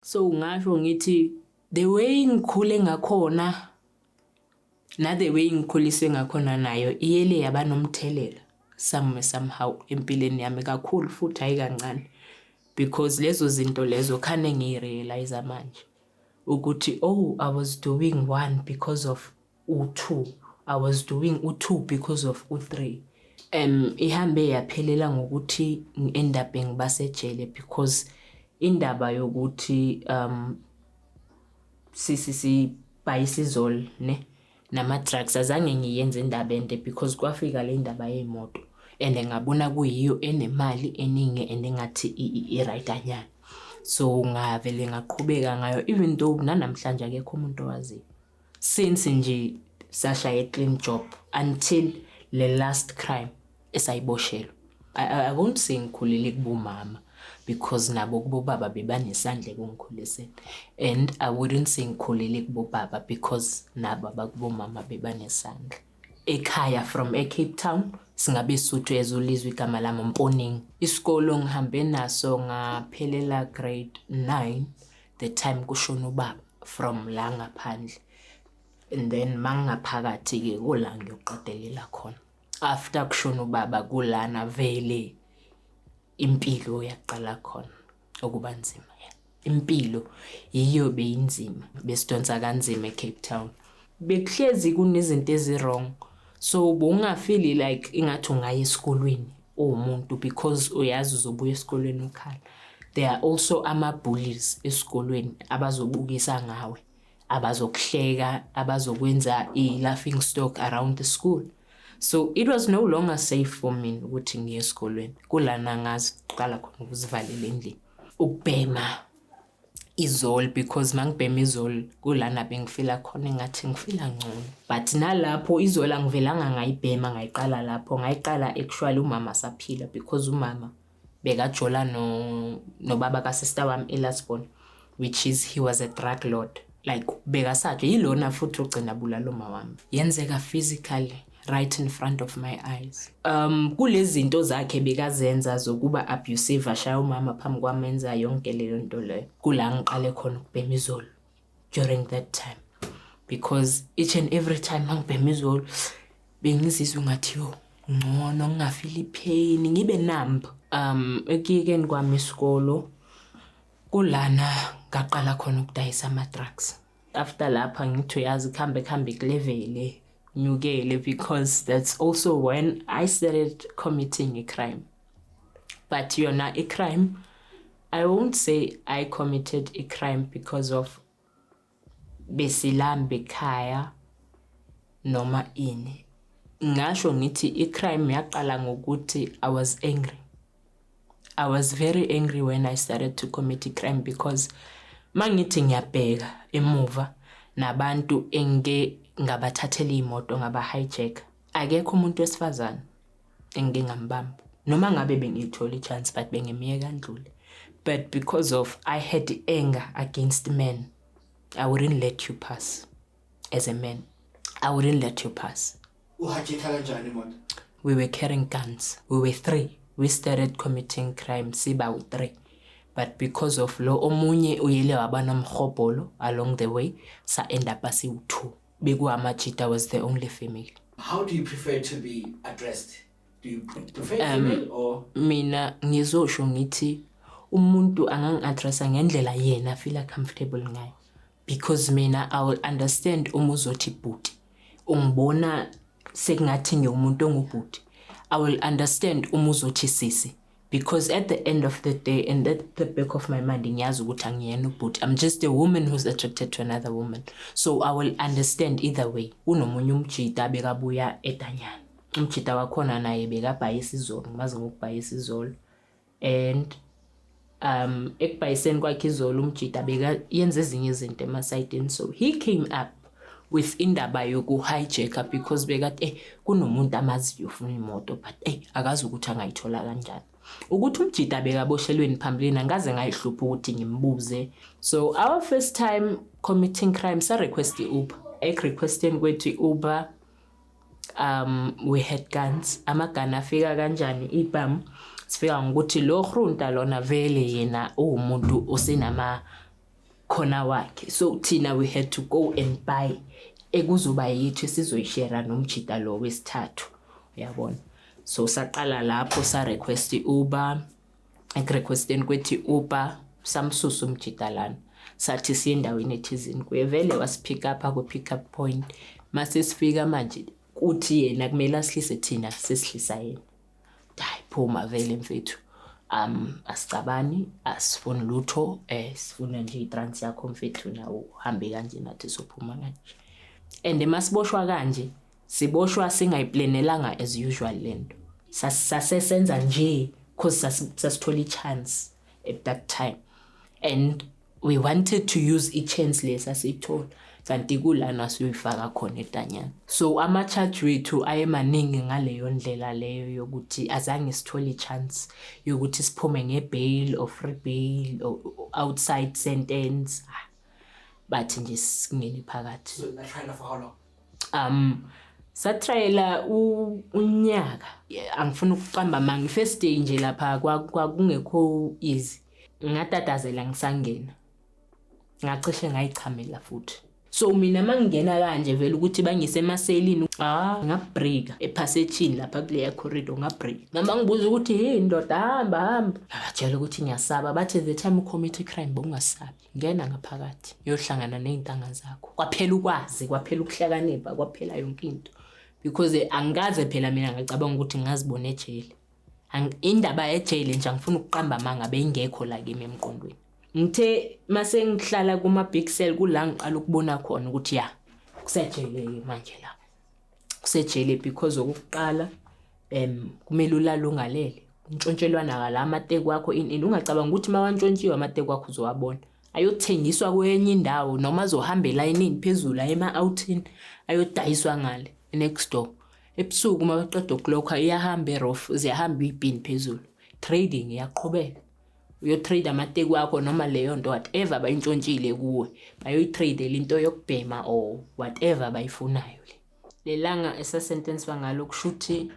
So ngasho ngithi the way ngikhule ngakhona na the way ngikhuliswe ngakhona nayo iyele yaba nomthelela some somehow empilweni yami kakhulu futhi hayi kancane because lezo zinto lezo khane ngiyirealize manje ukuthi oh i was doing one because of u-2 I was doing u-2 because of u-3 um ihambe yaphelela ngokuthi ngi-end up ngibasejele because indaba yokuthi um sisi sibhayisizol ne nama-drugs azange ngiyenze indaba ende because kwafika le ndaba yey'moto and ngabona kuyiyo enemali eningi and engathi i-right anyana so ngavele ngaqhubeka ngayo even though nanamhlanje akekho umuntu owaziyo Since nje sashaya i clean job until le last crime esayiboshelwe. I, I, I won't say ngikhulele kubomama because nabo kubobaba bebanesandla ekungikhuliseni and I wouldn't say ngikhulele kubobaba because nabo abakubomama bebanesandla ekhaya from eCape Town singabe Sotho ezolizwa igama lami Mponing isikolo ngihambe naso ngaphelela grade 9 the time kushona ubaba from la ngaphandle and then mangingaphakathi-ke kula ngiyoqedelela khona after kushona ubaba kulana vele impilo yaqala khona ukuba nzima impilo yiyo beyinzima besidonsa kanzima eCape Town bekuhlezi kunezinto eziwrong so bowungafili like ingathi ungaya esikolweni uwumuntu because uyazi uzobuya esikolweni ukhala there are also ama-bullies esikolweni abazobukisa ngawe abazokuhleka abazokwenza i-laughing stock around the school so it was no longer safe for me ukuthi ngiye esikolweni kulana ngaziqala khona ukuzivalela endlini ukubhema izol because mangibhema izol kulana bengifila khona engathi ngifila ngcono but nalapho izol angivelanga ngayibhema ngayiqala lapho ngayiqala actually umama saphila because umama bekajola no nobaba kasister wami elasbon which is he was a drug lord like bekasaje yilona futhi ugcina bulala uma wami yenzeka physically right in front of my eyes um kulezinto zakhe bekazenza zokuba abusive ashaya umama phambi kwami enza yonke leyo nto leyo kula ngiqale khona ukubhema izolo during that time because each and every time ngangibhema izolo bengizizwe ngathi yo ngcono ngingafili pain ngibe numb um ekuyekeni kwami isikolo kulana ngaqala khona ukudayisa ama drugs after lapha ngithi uyazi kuhambe kuhambe kulevele nyukele because that's also when i started committing a crime but yona i-crime i won't say i committed a crime because of besilambe ekhaya noma ini ngasho ngithi i-crime yaqala ngokuthi i was angry I was very angry when I started to commit crime because mangithi ngiyabheka emuva nabantu engike ngabathathela imoto ngaba hijack akekho umuntu wesifazane engike ngambamba noma ngabe bengiyithola ichance but bengimyeka ndlule but because of I had anger against men I wouldn't let you pass as a man i wouldn't let you pass uhajitha kanjani imoto we were carrying guns we were three we started committing crime siba u-three but because of lo omunye uyele waba nomhobholo along the way sa-end up asiwu-two bekuwamajita was the only female how do you prefer to be addressed do you prefer um, female or mina ngizosho ngithi umuntu angangi-addressa ngendlela yena fila comfortable ngayo because mina I will understand uma uzothi bhuti ungibona sekungathi ngiwumuntu ongubhuti I will understand uma uzothi sisi because at the end of the day and at the back of my mind ngiyazi ukuthi angiyena ubhuti I'm just a woman who's attracted to another woman so I will understand either way unomunye umjita bekabuya edanyana umjita wakhona naye bekabhayisa izolo ngimazi ngokubhayisa izolo and um ekubhayiseni kwakhe izolo umjida beka yenza ezinye izinto emasayidini so he came up with indaba yoku-hijack because bekade eh kunomuntu amaziyo ufuna imoto but eh akazi ukuthi angayithola kanjani ukuthi umjida bekaboshelweni phambilini angaze ngayihlupha ukuthi ngimbuze so our first time committing crime sa-request i-uber ekurequesteni kwethu i-uber um we had guns amagani afika kanjani ibhamu sifika ngokuthi lo hrunta lona vele yena uwumuntu osenama khona wakhe so thina we had to go and buy ekuzoba yethu esizoyishera nomjita lo wesithathu uyabona so saqala lapho sa request uber ekurequesteni kwethi upa samsusa umjidalana sathi siye endaweni ethizini kuye vele wasipick up akwi-pick up point mase sifika manje kuthi yena kumele asihlise thina sesihlisa yena hayi phuma vele mfethu um asicabani asifuni lutho um eh, sifuna nje itrans yakho mfethu nawo uhambe kanje nathi sophuma kanje and masiboshwa kanje Siboshwa singayiplenelanga as usual lento. Sasesenza nje because sasithola i-chance at that time. And we wanted to use i-chance lesa siyithola kanti kulana siyoyifaka khona etanyana so ama-charge wethu ayemaningi ngaleyo ndlela leyo yokuthi azange sithole i-chance yokuthi siphume nge-bail or free bail or outside sentence ah, bathi nje singene phakathi so, um satrayela unyaka angifuni ukuqamba ma ngi-first day nje lapha kwakungekho easy ngatatazela ngisangena ngacishe ngayichamela futhi so mina uma ngingena kanje vele ukuthi bangise emaselini ah ngabreaka ephasejini lapha kuleya corridor ngabreaka mama ngibuza ukuthi yini ndoda hamba hamba ngabatshela ukuthi ngiyasaba bathe the time ucommit crime bokungasabi ngena ngaphakathi yohlangana ney'ntanga zakho kwaphela ukwazi kwaphela ukuhlakanipha kwaphela yonke into because angikaze phela mina ngacabanga ukuthi ngingazibona ejele indaba yejele nje angifuna ukuqamba amanga beyingekho la kimi emqondweni ngithe mase ngihlala kuma-big cell kula ngiqala ukubona khona ukuthi ya kusejele-ke manje la kusejele because okokuqala um kumele ulale ungalele ntshontshelwana kala amateku wakho ini ini ungacabanga ukuthi uma wantshontshiwe amateku wakho uzowabona ayothengiswa kwenye indawo noma azohamba elayinini phezulu aye ema-outini ayodayiswa ngale next door ebusuku uma baqeda ukulokha iyahamba erof ziyahamba iyibhini phezulu trading iyaqhubeka uyotrade amateku akho noma leyo nto whatever bayintshontshile kuwe bayoyitradela into yokubhema or whatever bayifunayo le lelanga esasentenswa ngalo kushuthi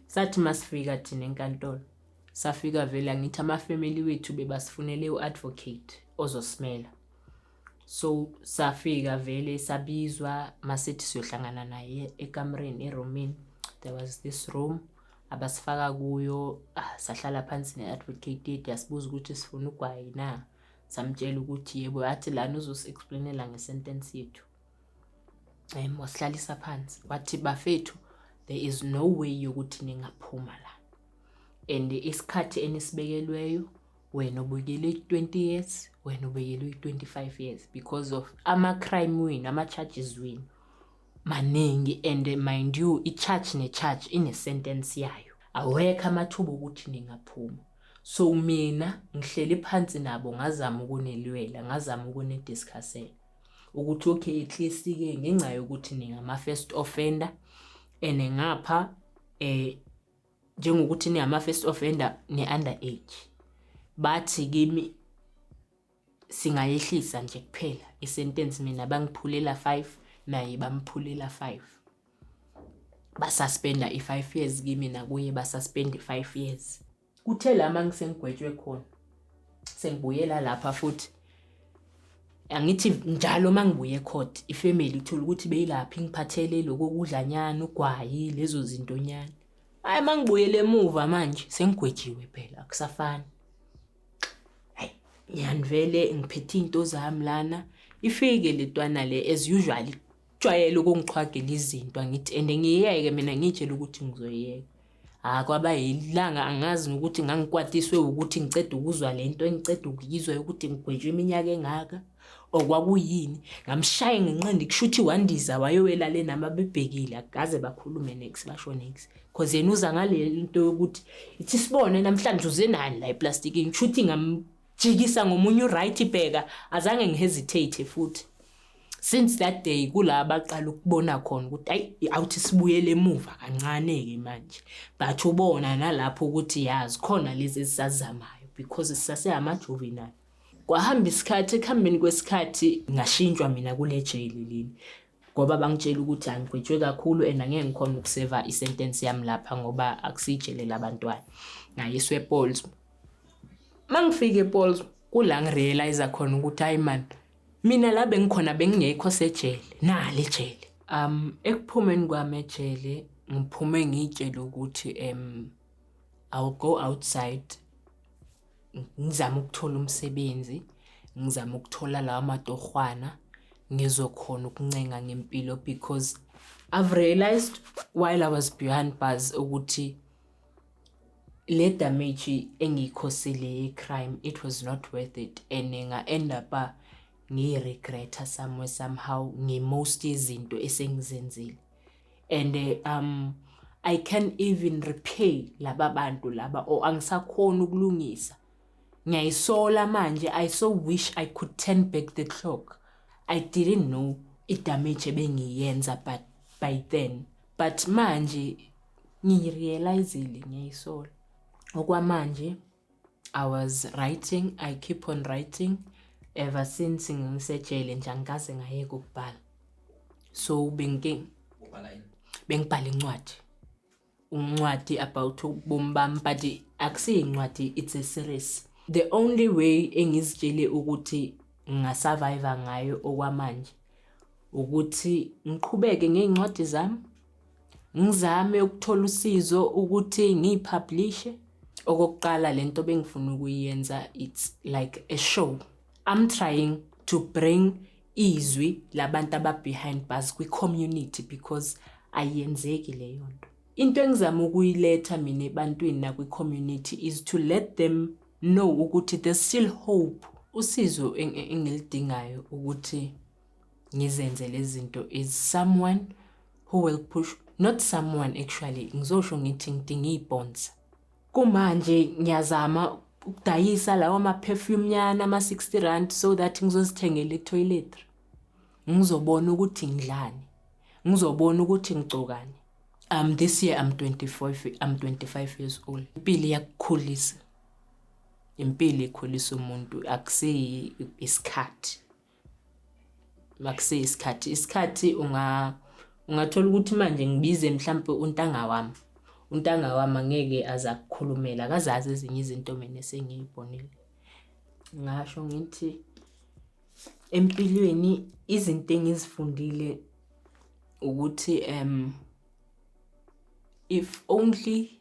sathi masifika thina enkantolo safika vele angithi amafamily wethu bebasifunele u-advocate ozosimela so safika vele sabizwa masithi siyohlangana naye ekamreni eroomini there was this room abasifaka kuyo ah, sahlala phansi ne-advocate yasibuza ukuthi sifuna ugwayi na samtshela ukuthi yebo yathi lana uzosiexplainela ngesentence yethu um wasihlalisa phansi wathi bafethu there is no way yokuthi ningaphuma la and isikhathi enisibekelweyo wena ubuyekele uyi-20 years wena ubuyekele uyi-25 years because of ama-crime wenu ama-charges wenu maningi and mind you i-charge ne-charge ine-sentence yayo awekho amathuba okuthi ningaphuma so mina ngihleli phansi nabo ngazama ukunilwela ngazama ukunidiscussela ukuthi okay at least ke ngenxa yokuthi ningama first offender and ngapha eh njengokuthi ningama first offender ne under age bathi kimi singayehlisa nje kuphela i sentence mina bangiphulela 5 naye bamphulela 5 basuspenda i 5 years kimi nakuye basuspend i 5 years kuthe lama ngisengigwetshwe khona sengibuyela lapha futhi angithi njalo uma ngibuye ecourt ifamily ithola ukuthi beyilaphi ngiphathele lokho kudlanyana ugwayi lezo zintonyana hayi uma ngibuyele emuva manje sengigwejiwe phela akusafani hayi ngiyanivele ngiphethe iy'nto zami lana ifike le twana le as usual Jwayele ukungiqhwagela izinto angithi and ngiyeke mina ngitshela ukuthi ngizoyeka. Hayi ah, kwaba yilanga angazi ukuthi ngangikwatiswe ukuthi ngiceda ukuzwa le nto engiceda ukuyizwa yokuthi ngigwetshwe iminyaka engaka or kwakuyini ngamshaye ngenqindi kushuthi wandiza wayowela le nami abebhekile akaze bakhulume nex basho nex cause yena uza ngale nto yokuthi ithi sibone namhlanje uze nani la eplastiking kushuthi ngam Jikisa ngomunye uright bheka azange ngihesitate futhi since that day kula abaqala ukubona khona ukuthi ayi awuthi sibuyele emuva kancane ke manje but ubona nalapho ukuthi yazi khona lezi esizazamayo because sisase ama juvenile kwahamba isikhathi ekuhambeni kwesikhathi ngashintshwa mina kule jail leli ngoba bangitshela ukuthi angigwetshwe kakhulu and angeke ngikhona ukuseva isentence yami lapha ngoba akusijele labantwana ngayiswe epols mangifike epols kula ngirealize khona ukuthi hayi man mina la bengikhona bengingekho sejele nali ejele um ekuphumeni kwami ejele ngiphume ngitshele ukuthi um i'll go outside ngizama ukuthola umsebenzi ngizama ukuthola lawa matorhwana ngizokhona ukuncenga ngempilo because i've realized while i was behind bars ukuthi le damage engiyikhosile ye-crime it was not worth it and nga-end up ngiyiregretta somewhere somehow nge-most yezinto esengizenzile and eh, um I can even repay laba bantu laba or angisakhona ukulungisa ngiyayisola manje I so wish I could turn back the clock I didn't know idamage ebengiyenza but by then but manje ngirealizile ngiyayisola okwamanje I was writing, I keep on writing ever since ngisejele nje angikaze ngayeka ukubhala. So bengi Ubhala yini? bengibhala incwadi. Incwadi about ubomi bami but akusiyincwadi it's a series. The only way engizitshele ukuthi ngasurvive ngayo okwamanje ukuthi ngiqhubeke ngey'ncwadi zami Ngizame ukuthola usizo ukuthi ngiyipublishe. Okokuqala le nto bengifuna ukuyenza it's like a show. I'm trying to bring izwi labantu ababehind bars kwi-community because ayenzeki leyo nto. Into engizama ukuyiletha mina ebantwini nakwi-community is to let them know ukuthi there's still hope. Usizo engilidingayo ukuthi ngizenze lezinto is someone who will push not someone actually ngizosho ngithi ngidinga iy'ponsa kumanje ngiyazama ukudayisa lawa ma-perfume nyana ama-60 rand so that ngizozithengela etoiletry ngizobona ukuthi ngidlani ngizobona ukuthi ngigcokani um this year i'm 25 i'm 25 years old impilo iyakukhulisa impilo ikhulisa umuntu akusiyi isikhathi makusiya isikhathi isikhathi unga ungathola ukuthi manje ngibize mhlampe untanga wami untanga wami angeke aza kukhulumela akazazi ezinye izinto mina esengiyibonile ngasho ngithi empilweni izinto engizifundile ukuthi um if only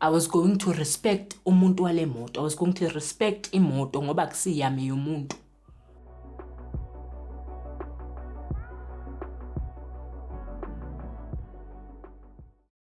I was going to respect umuntu wale moto. I was going to respect imoto ngoba kusiyami yomuntu.